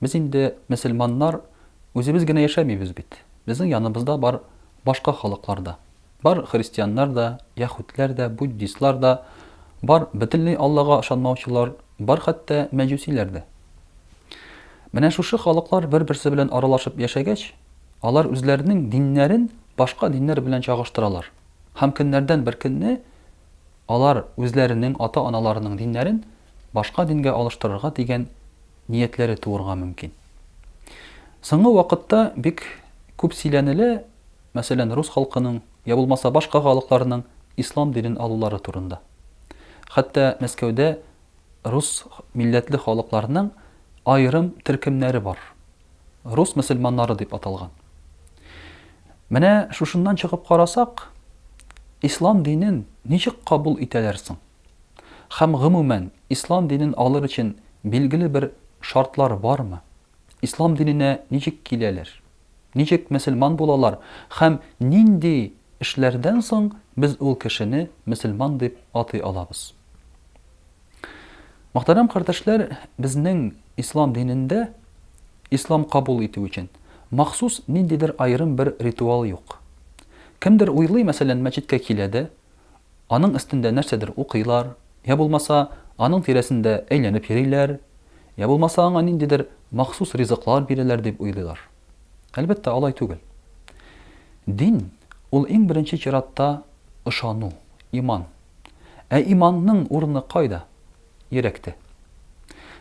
Без инде, мөселманнар, үзебез генә яшәмибез бит. Безнең яныбызда бар башка халыклар да. Бар христианнар да, яһүдләр дә, буддистлар да, бар бөтенләй Аллага ышанмаучылар, бар хәтта мәҗүсиләр дә. Менә шушы халыклар бер-берсе белән аралашып яшәгәч, алар үзләренең диннәрен башка диннәр белән чагыштыралар һәм көннәрдән бер көнне алар үзләренең ата-аналарының диннәрен башка дингә алыштырырга дигән ниятләре туырга мөмкин. Соңгы вакытта бик күп сөйләнелә, мәсәлән, рус халкының, я булмаса башка халыкларның ислам динен алулары турында. Хәтта Мәскәүдә рус милләтле халыкларның аерым төркемнәре бар. Рус мөселманнары дип аталган. Менә шушыннан чыгып карасак, ислам динен ничек кабул итәләр соң? Һәм, гомумән, ислам динен алыр өчен билгеле бер шартлар бармы? Ислам диненә ничек киләләр? Ничек мөселман булалар һәм нинди эшләрдән соң без ул кешене мөселман дип атый алабыз? Мөхтәрәм кардәшләр, безнең ислам динендә ислам кабул итү өчен махсус ниндидер аерым бер ритуал юк. Кемдер уйлый, мәсәлән, мәчеткә килә дә, Аның өстендә нәрсәдер укыйлар, йә булмаса, аның тирәсендә әйләнеп йөриләр, йә булмаса, аңа ниндидер махсус ризыклар бирәләр дип уйлыйлар. Әлбәттә, алай түгел. Дин, ул иң беренче чиратта ышану, иман. Ә иманның урыны кайда? Йөрәктә.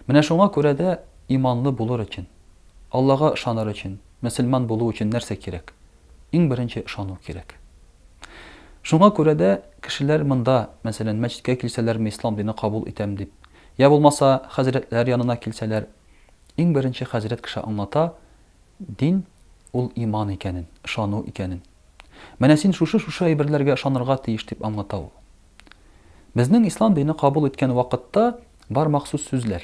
Менә шуңа күрә дә иманлы булыр өчен, Аллага ышаныр өчен, мөселман булу өчен нәрсә кирәк? Иң беренче ышану кирәк. Шуңа күрә дә кешеләр монда, мәсәлән, мәчеткә килсәләрме, ислам дине кабул итәм дип, я булмаса, хәзрәтләр янына килсәләр, иң беренче хәзрәт кеше аңлата, дин, ул иман икәнен, ышану икәнен. Менә син шушы-шушы әйберләргә ышанырга тиеш, дип аңлата ул. Безнең ислам дине кабул иткән вакытта бар махсус сүзләр.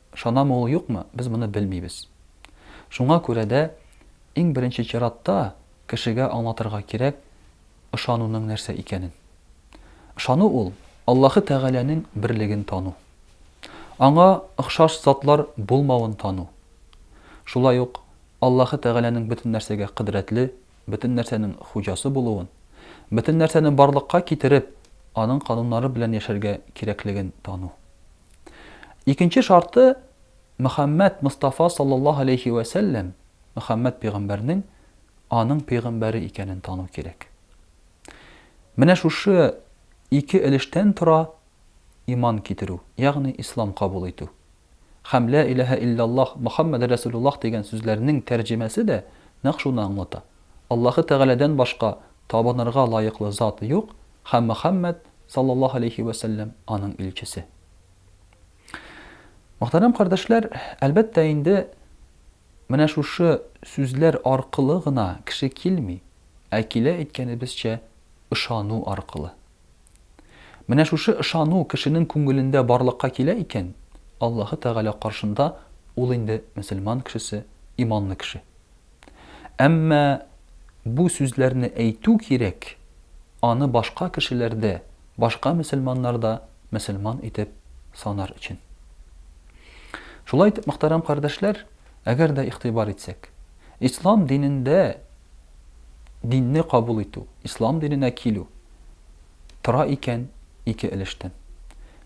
Ышанамы ул, юкмы, без моны белмибез. Шуңа күрә дә, иң беренче чиратта, кешегә аңлатырга кирәк ышануның нәрсә икәнен. Ышану ул, Аллаһы Тәгаләнең берлеген тану. Аңа охшаш затлар булмавын тану. Шулай ук Аллаһы Тәгаләнең бөтен нәрсәгә кодрәтле, бөтен нәрсәнең хуҗасы булуын, бөтен нәрсәне барлыкка китереп, аның кануннары белән яшәргә кирәклеген тану. Икенче шарты, Мөхәммәд Мостафа саллаллаһу галәйһи вә сәлләм, Мөхәммәд пәйгамбәрнең аның пәйгамбәре икәнен тану кирәк. Менә шушы ике өлештән тора иман китерү, ягъни ислам кабул итү. Һәм Лә иләһә илляллаһ, Мөхәммәд рәсүлуллаһ дигән сүзләрнең тәрҗемәсе дә нәкъ шуны аңлата. Аллаһы Тәгаләдән башка Табынырга лаеклы зат юк, һәм Мөхәммәд, саллаллаһу галәйһи вә сәлләм, аның илчесе. Мөхтәрәм кардәшләр, әлбәттә инде, менә шушы сүзләр аркылы гына кеше килми, ә килә әйткәнебезчә, ышану аркылы. Менә шушы ышану кешенең күңелендә барлыкка килә икән, Аллаһы Тәгалә каршында ул инде мөселман кешесе, иманлы кеше. Әмма бу сүзләрне әйтү кирәк, аны башка кешеләр дә, башка мөселманнар да мөселман итеп санар өчен. Шулай итеп, мөхтәрәм кардәшләр, әгәр дә игътибар итсәк, ислам динендә динне кабул итү, ислам диненә килү тора икән ике өлештән.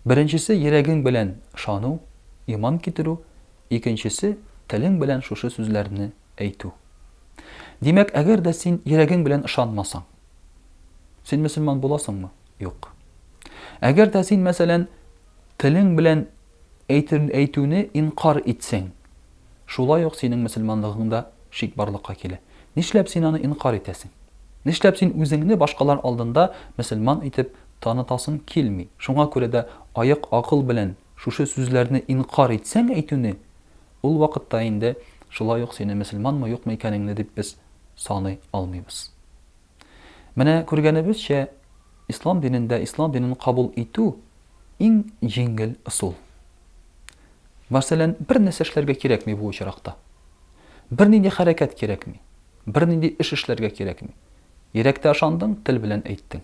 Беренчесе йөрәгең белән ышану, иман китерү, Икенчесе, телең белән шушы сүзләрне әйтү. Димәк, әгәр дә син йөрәгең белән ышанмасаң, син мөселман буласыңмы? Юк. Әгәр дә син, мәсәлән, телең белән әйтүне инкарь итсәң, шулай ук синең мөселманлыгыңда шик барлыкка килә. Нишләп син аны инкарь итәсең? Нишләп син үзеңне башкалар алдында мөселман итеп танытасың килми? Шуңа күрә дә аек акыл белән Шушы сүзләрне инкарь итсәң әйтүне, ул вакытта инде шулай ук сине мөселманмы юкмы икәнеңне дип без саный алмыйбыз. Менә күргәнебезчә, ислам динендә ислам динен кабул итү иң җиңел ысул. Мәсәлән, бернәрсә эшләргә кирәкми бу очракта. Бернинди хәрәкәт кирәкми, бернинди эш эшләргә кирәкми. Йөрәктә ышандың, тел белән әйттең.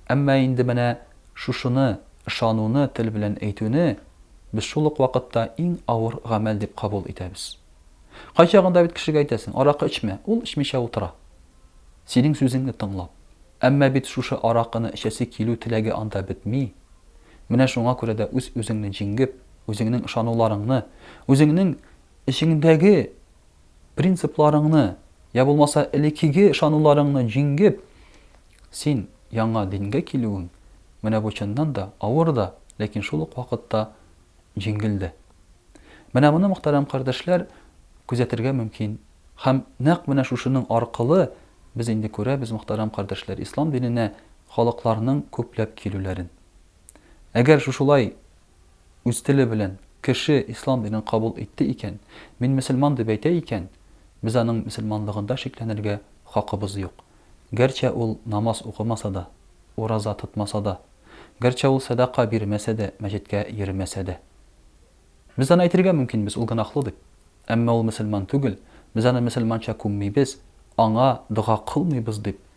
Әмма инде менә шушыны, ышануны тел белән әйтүне без шул ук вакытта иң авыр гамәл дип кабул итәбез. Кайчагында бит кешегә әйтәсең, аракы эчмә, ул эчмичә утыра, синең сүзеңне тыңлап. Әмма бит шушы аракыны эчәсе килү теләге анда бетми. Менә шуңа күрә дә үз-үзеңне җиңгеп, үзеңнең ышануларыңны, үзеңнең эчеңдәге Принципларыңны, йә булмаса элеккеге ышануларыңны җиңгеп, син яңа дингә килүең, менә бу чыннан да авыр да, ләкин шул ук вакытта җиңел дә. Менә моны, мөхтәрәм кардәшләр, күзәтергә мөмкин. Һәм нәкъ менә шушының аркылы без инде күрәбез, мөхтәрәм кардәшләр, ислам диненә халыкларның күпләп килүләрен. Әгәр шушылай үз теле белән кеше ислам динен кабул итте икән, мин мөселман дип әйтә икән, без аның мөселманлыгында шикләнергә хакыбыз юк. Гәрчә ул намаз укымаса да, ураза тотмаса да, гәрчә ул сәдака бирмәсә дә, мәчеткә йөрмәсә дә. Без аны әйтергә мөмкинбез, ул гөнаһлы дип. Әмма ул мөселман түгел, без аны мөселманча күммибез, аңа дога кылмыйбыз дип